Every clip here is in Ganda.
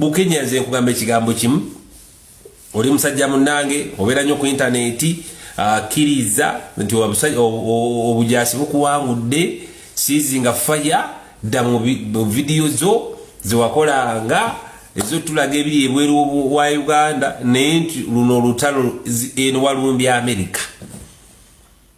bukenya nze nkugamba ekigambo kimu oli musajja munange obera nyo ku internet akiriza ah, nti wabusajja obujasi bukuwangudde sizinga fire da mu video zo ziwakola nga ezo tulaga ebiri ebweru wa Uganda naye nti luno lutalo eno walumbya America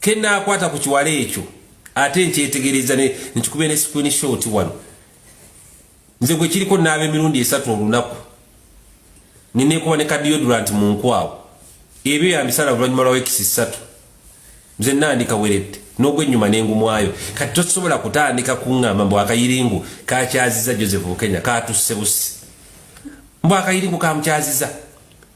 kenaakwata ku kiwala ekyo ate nkyetegereza nkikube ne screen short wano nze gwe kiriko naaba emirundi esatu olunaku ninekuba ne kadiodurant mu nkwawo ebyo yambisala oluvanyuma lwa wekisi ssatu nze nandika weredde n'ogwennyuma nengumwayo kati tosobola kutandika kuŋŋamba mbu akayiringu kakyaziza joseph bukenya katusse busi mbu akayiringu kamukyaziza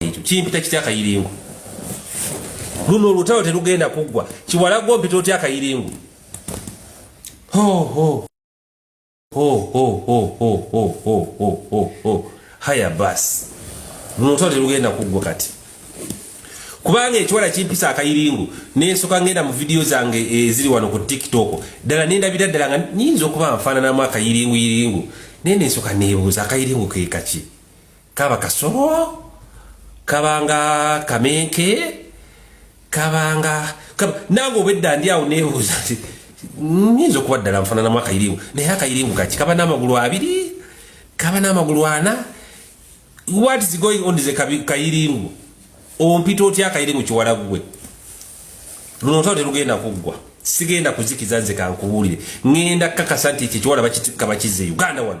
ekyo kimpita kitya akayiringu luno olutalo terugenda kuggwa kiwala gwo mpita otya akayiringu haya bas luno olutalo terugenda kuggwa kati kubanga ekiwala kimpisa akayiringu nensoka ngenda mu vidiyo zange eziri wano ku tiktok ddala nendabira ddala nga nyinza okuba nfaananamu akayiringu yiringu naye nensoka nebuuza akayiringu kekaki kaba kasoro kabanga kamenke kabanga kaba nange obwedda ndi awo nebuuza nti nyinza okuba ddala nfananamu akayiringu naye akayiringu kaki kaba n'amagulu abiri kaba n'amagulu ana what is going on is a kayiringu ompita otya akayiringu kiwala gwe luno otalo terugenda kuggwa sigenda kuzikiza nze kankubuulire ngenda kakasa nti ekyo ekiwala bakikaba kizza e uganda wano